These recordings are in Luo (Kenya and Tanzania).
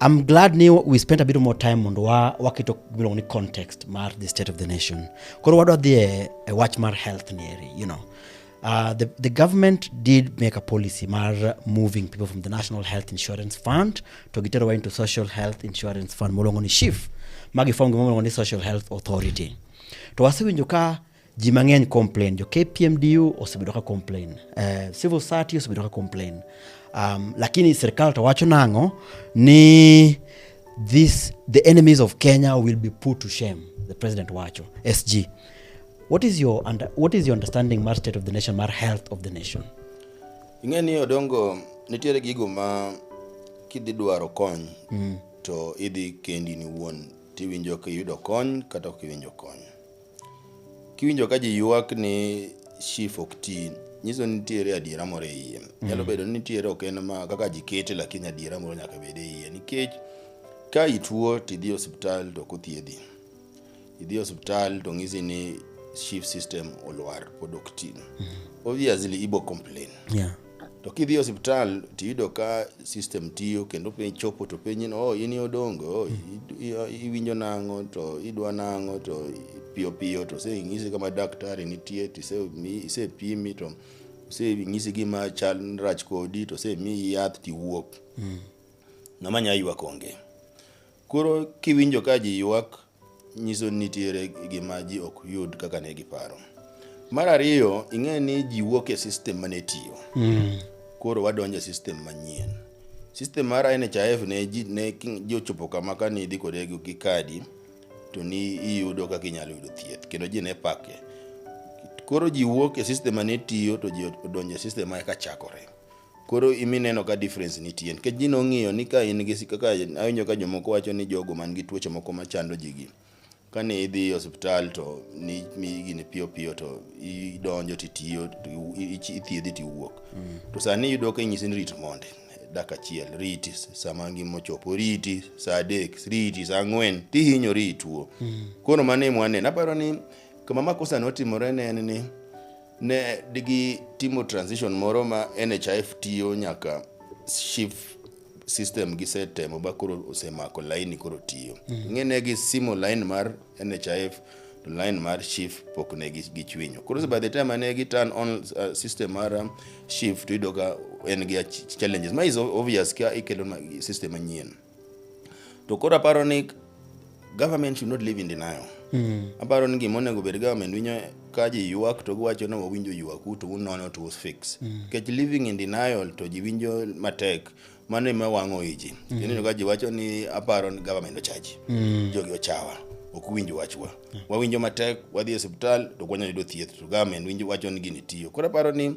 I'm glad ni we spent a bit more time mondo wa waketo gimiluongo ni context mar the state of the nation. Koro wadwa dhi e, e wach mar health ni eri, you know. Uh, the, the government did make a policy mar moving people from the National Health Insurance Fund to giterowa into Social Health Insurance Fund moluongo ni SHIF ma giform gima miluongo ni Social Health Authority. To wasewinjo ka ji mang'eny complain jo kpmdu osebedo ka complain uh, civil society osebedo ka complain um, lakini serikal to wacho nang'o ni this the enemies of kenya will be put to shame the president wacho sg what is your, under, what is your understanding mar state of the nation mar health of the nation ing'e ni odongo nitiere gigo ma kidhi dwaro kony mm. to idhi kendi ni wuon tiwinjo kiyudo kony kata ok iwinjo kony Kiwinjo ka ji ywak ni shif ok ti, nyiso ni nitiere adiera moro e iye. Nyalo bedo ni nitiere ok en ma kaka ji kete lakini adiera moro nyaka bed e iye nikech ka ituo to idhi e osiptal to ok othiedhi. Idhi e osiptal to ng'isi ni shif system olwar pod ok ti. Obviously ibo complain. Yeah. To kidhi e osiptal tiyudo ka system tiyo kendo piny chopo to penyi ni oh in odongo oh, i- i- iwinjo nang'o to idwa nang'o to piyo piyo to oseng'isi kama daktari nitie to isemi- isepimi to oseng'isi gima chal rach kodi to osemiyi yath tiwuok ng'ama nya ywak onge Koro kiwinjo ka ji ywak, nyiso ni nitiere gima ji ok yud kaka ne giparo. Mar ariyo, ing'e ni ji wuok e sistem mane tiyo. Mm. Koro wadonjo e sistem manyien. Sistem mar NHIF ne ji ne ki- ji ochopo kama ka nidhi kode gi gi kadi to ni iyudo kaka inyalo yudo thieth kendo ji ne pake. Koro ji wuok e sistem mane tiyo to ji odonjo e sistem ma eka chakore. Koro imi neno ka difference nitie nikech ji nong'iyo ni ka in gi si- kaka awinjo ka jomoko wacho ni jogo man gi tuoche moko machando ji gi kane idhi e osiptal to ni mi gini piyo piyo to idonjo titiyo to i- i- ithiedhi tiwuok to sani iyudo ka inyisi ni rit monde dak achiel riti sama ngima ochopo riti saa adek riti saa ang'wen tihinyori ituo koro mano emwaneno aparo ni kama makosa notimore ne en ni Ne digi timo transition moro ma NHIF tiyo nyaka SHIF system gisetemo ba koro osemako laini koro tiyo. Mm. Ng'e ne gisimo lain mar NHIF to lain mar SHIF pok ne gichwinyo. Koro by the time ne gi turn on uh, system mar um, SHIF to idoka en gi challenges ma is obvious ka ikelo system manyien. to koro aparo ni government should not live in denial mm. aparo ni gima onego bed government winyo ka ji ywak to giwacho ni wawinjo ywaku to unono to usfix mm. kech living in denial to ji winjo matek mano ema wang'o iji mm. ineno ka ji wacho ni aparo ni government ochaji mm. jogi ochawa ok winj wachwa mm. wawinjo matek wadhi e osiptal to kwanyalo yudo thieth to government winjo wacho ni gini tiyo koro aparo ni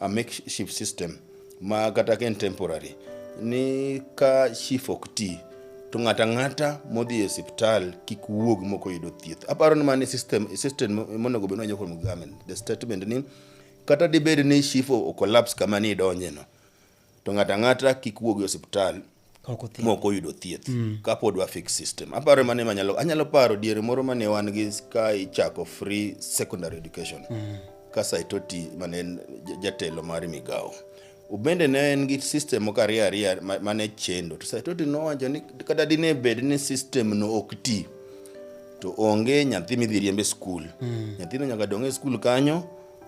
a makeshift system ma kata ka en temporary ni ka chief ok ti to ng'ata ng'ata modhi e osiptal kik wuog mok oyudo thieth aparo ni mani system system monego bed ni wanyo kuom government the statement ni kata dibed ni chief o collapse kama ni idonjeno to ng'ato ang'ata kik wuogi e osiptal mok oyudo thieth mm. kapod wa fix system aparo mane manyalo anyalo paro diere moro mane wan gi ka ichako free secondary education mm. ka saitoti mane en jatelo mar migawo ubende ne en gi system moko ariyo ariyo mane chendo to saitoti nowacho ni kata dine bed ni system no ok ti to onge nyathi midhi riembe skul mm. nyathino nyaka dong' e skul kanyo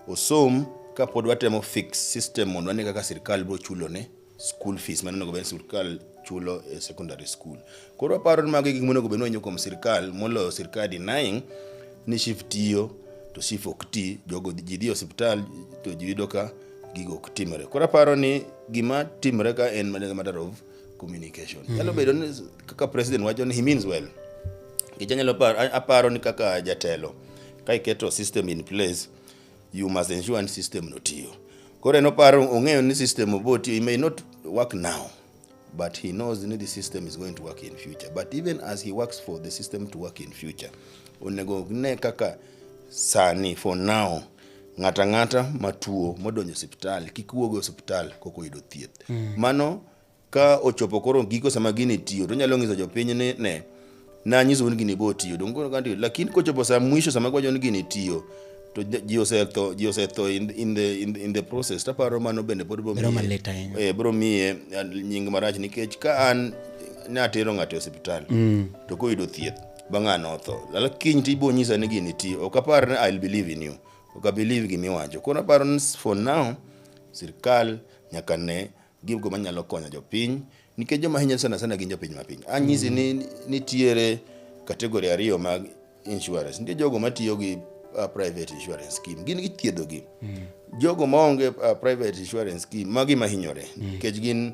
osom ka pod watemo fix system mondo wane kaka sirkal biro chulo ne school fees mane onego bed ni sirkal chulo e secondary school. Koro aparo ni mago e gik monego bed ni wanyo kuom sirkal moloyo sirkal denying ni SHIF tiyo to SHIF ok ti, jogo ji dhi e osiptal to ji yudo ka gigo ok timre. Koro aparo ni gima timre ka en matter of communication mm. nyalo bedo ni kaka president wacho ni he means well nikech anyalo paro, a- aparo ni kaka jatelo ka iketo system in place you must ensure ni system no tiyo koro en oparo ong'eyo ni system obo tiyo he may not work now but he knows ni the system is going to work in future but even as he works for the system to work in future onego ne kaka sani for now Ng'ato ang'ata matuo modonjo osiptal kik wuog e osiptal kok oyudo thieth. Mano ka ochopo koro giko sama gini tiyo to onyalo nyiso jopiny ni ne nanyisou ni gini bo tiyo donge koro kantiyo lakini kochopo sa mwisho sama gwacho ni gini tiyo to ji- ji osetho ji osetho in, in, the, in, the, in the process taparo mano bende pod bro Bedo miye- malit ahinya. eh, bro miye eh, nying marach nikech ka an natero ng'ato e osiptal to koyudo thieth ba ng'ano otho lala kiny ti ibo nyisa ni gini ti ok apar ni I'll believe in you ok abelieve gima iwacho koro aparo ni for now sirkal nyaka ne gigo manyalo konyo jopiny nikech joma hinyore sana sana gin jopiny ma piny anyisi ni nitiere kategori ariyo mag insurance nitie jogo matiyo gi uh, private insurance scheme gin githiedhogi jogo maonge uh, private insurance scheme magi mahinyore nikech gin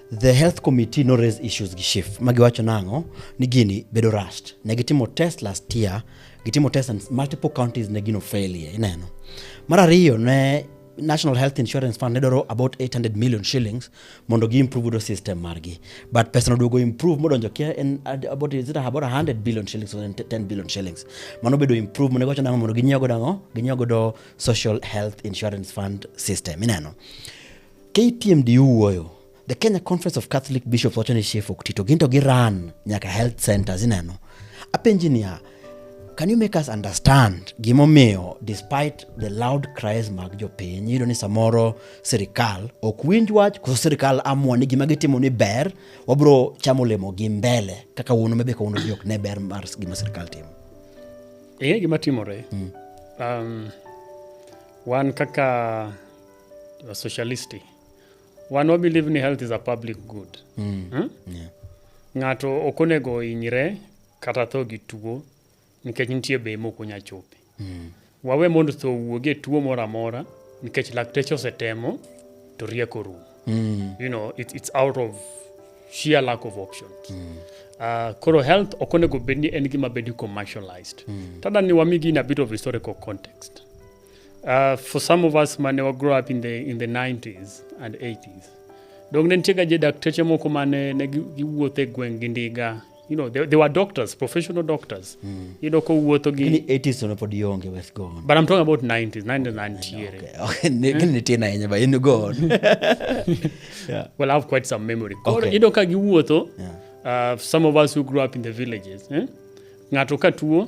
The health committee no raise issues gi SHIF ma giwacho nang'o ni gini bedo rushed. Ne gitimo test last year, gitimo test and multiple counties ne gino failure ineno. Mar ariyo ne National Health Insurance Fund ne dwaro about 800 million shillings mondo gi improve godo system margi but pesa noduogo improve modonjo kia en ad- about is it about 100 billion shillings or 10 billion shillings mano bedo improve mondo giwacho nang'o mondo ginyiew godo ang'o ginyiew godo social health insurance fund system ineno KTMD wuoyo. The Kenya Conference of Catholic Bishops wacho ni Chief ok tito ginto gi run nyaka health centers ineno. Apenji niya, can you make us understand gimomiyo despite the loud cries mag jopiny iyudo ni samoro sirikal ok winj wach koso sirikal amua ni gima gitimo ni ber wabro chamo olemo gi mbele kaka wuono mebe kawuono ji ok ne ber mar gima sirikal timo ing'e gima timore mm. um, wan kaka wa socialisti wan wa believe ni health is a public good mm. hmm? yeah. ng'ato ok onego ohinyre kata tho gi tuo nikech nitie bei mok onya chope mm. wawe mondo tho wuog e tuo moro amora nikech lakteche osetemo to rieko rum mm. you know, it, it's out of sheer lack of options mm. uh, koro health ok onego bed ni en gima bedi commercialized mm. tada ni wamigi in a bit of historical context Uh, for some of us mane wagrew up in the, in the 90s and 80s dong ne nitiega je dakteche moko mane ne giwuotho e gweng' gi ndiga you know they, they were doctors professional doctors mm. you know ko wuotho gi ni 80s no pod yonge wes go but i'm talking about 90s 90s and here okay okay ne ni tena yenye ba in go on yeah well i have quite some memory okay. you know ka gi wuotho yeah. uh, some of us who grew up in the villages eh? ngato ka tuo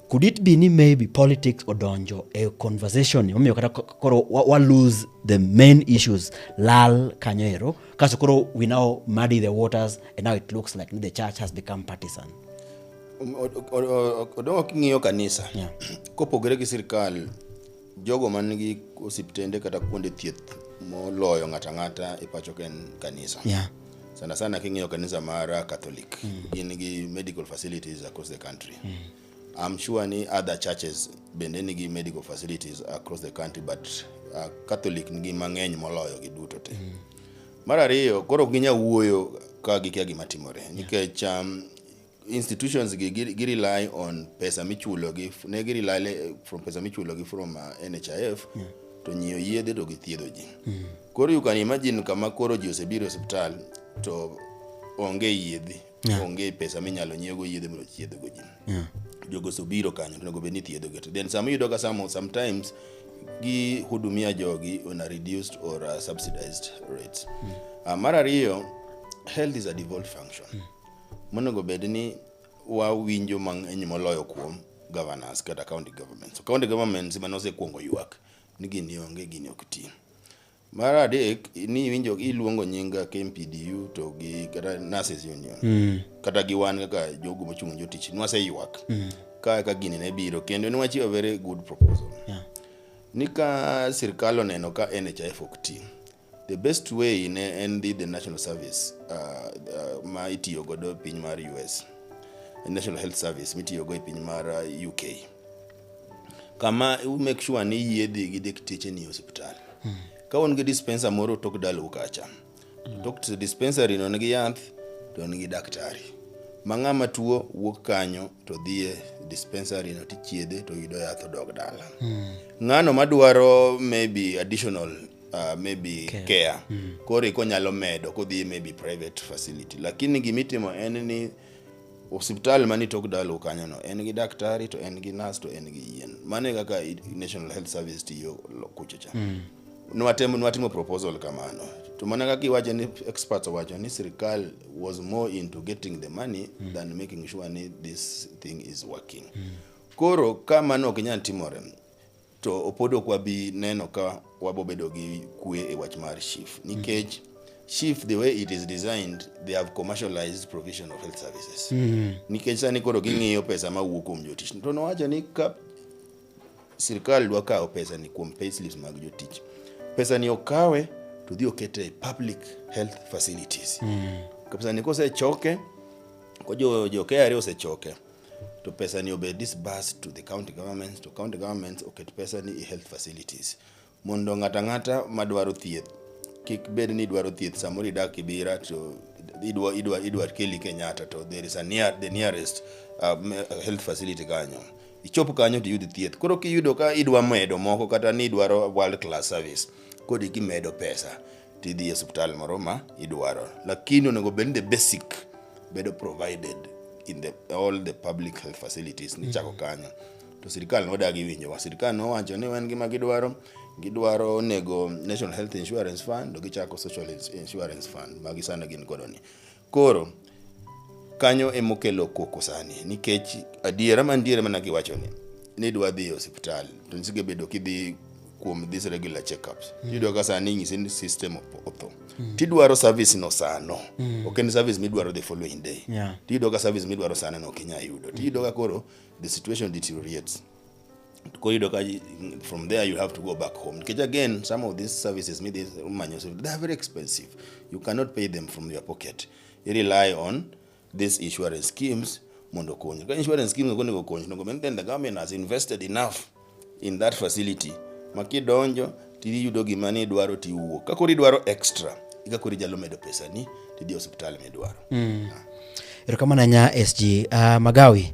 Could it be ni maybe politics odonjo e conversation ni omiyo kata ko- koro wa, wa lose the main issues lal kanyo ero kaso koro we now muddy the waters and now it looks like ni the church has become partisan. Odongo king'iyo kanisa Yeah. kopogore gi sirkal Jogo man gi osiptende kata kuonde thieth moloyo ng'ato ang'ata e pacho ka en kanisa. Yeah. Sana sana king'iyo kanisa mar Catholic, mm. gin gi medical facilities across the country. Mm. I'm sure ni other churches bende nigi medical facilities across the country but uh, Catholic nigi mang'eny moloyo gi duto te. Mm. Mar ariyo, koro ginya wuoyo ka gikia gima timore nikech um, institutions gi gi gi rely on pesa michulo gi ne gi rely le- from pesa michulo gi from uh, NHIF to nyiewo yedhe to githiedho ji koro you can imagine kama koro ji osebiro e osiptal to onge yedhe Yeah. onge pesa minyalo nyiewogo yedhe mondo thiedhgo ji Yeah. jogo sobiro kanyo to onego bed ni thiedhogi to then sama iyudo ka samo sometimes gi hudumia jogi on a reduced or a subsidized rates uh, mar ariyo health is a devolved function Monego bed ni wawinjo mang'eny moloyo kuom governors kata county governments. County governments ema nosekuongo ywak ni gini onge gini ok ti. Mar adek ni iwinjo iluongo nying KMPDU to gi kata nurses union mm. kata gi wan kaka jogo mochung' jotich nwaseywak mm. ka ka gini ne biro kendo niwachiwo very good proposal yeah. ni ka sirkal oneno ka NHIF ok ti The best way ne en dhi the National Service uh, uh, ma itiyo godo e piny mar US. National Health Service mitiyo go e piny mar uh, UK. Kama u make sure ni yie dhi gi dakteche ni hospital. Hmm. Ka un gi dispenser moro tok dalu kacha. Hmm. Tok to dispensary no nigi yath to nigi daktari. Ma ng'ama tuo wuok kanyo to dhie dispensary no tichiedhe to yudo yath odog dala. Hmm. Ng'ano madwaro maybe additional uh, maybe care, care. Mm. koro iko nyalo medo kodhi maybe private facility lakini gimitimo en ni osiptal mani tok dalo kanyono en gi daktari to en gi nas to en gi yien mano e kaka national health service tiyo kuchocha mm. nwatemo nwatimo proposal kamano to mana kaka iwacho ni experts owacho ni sirikal was more into getting the money mm. than making sure ni this thing is working mm. koro ka mano ok inyal timore to pod ok wabi neno ka wabobedo gi kwe e wach mar SHIF nikech mm -hmm. SHIF the way it is designed they have commercialized provision of health services mm -hmm. nikech sani koro ging'iyo pesa ma wuok kuom jotich to nowacho ni ka sirkal dwa kawo pesa ni kuom payslips mag jotich pesa ni okawe to dhi okete e public health facilities mm -hmm. pesa ni kosechoke ko jo, jo KRA osechoke to pesa ni obed disbursed to the county governments to county governments oket pesa ni e health facilities mondo ng'ato ang'ata madwaro thieth kik bed ni idwaro thieth samoro idak Kibira to idwa idwa idwa keli Kenyatta to there is a near the nearest uh, me- uh, health facility kanyo ichop kanyo to iyud thieth koro kiyudo ka idwa medo moko kata ni idwaro world class service kodi kimedo pesa to idhi e osiptal moro ma idwaro. Lakini onego bed ni the basic bedo provided in the, all the public health facilities nichako kanyo. To sirkal nodagi winjowa. Sirkal nowacho ni wan gima gidwaro gidwaro onego National Health Insurance Fund to gichako Social Insurance Fund magi sani gin kodoni. Koro kanyo emokelo koko sani nikech adiera mantiere mana giwacho ni ni dwa dhi e osiptal to nisige bedo kidhi kuom this regular checkups mm. tiyudo ka sani inyisi ni system opotho mm. tidwaro service no sano mm. ok en service midwaro the following day yeah. tiyudo ka service midwaro sano no ok inyal yudo tiyudo ka koro the situation deteriorates koyudo ka from there you have to go back home nikech again some of these services midhi manyo they are very expensive you cannot pay them from your pocket you rely on these insurance schemes mondo okonyi ka insurance schemes ok onego okonyi onego bed then the government has invested enough in that facility ma kidonjo tiyudo gima ni idwaro tiwuok ka koro idwaro extra ika koro ijalo medo pesa ni tidhi osiptal midwaro mm. erokamano anya sg uh, ah, magawi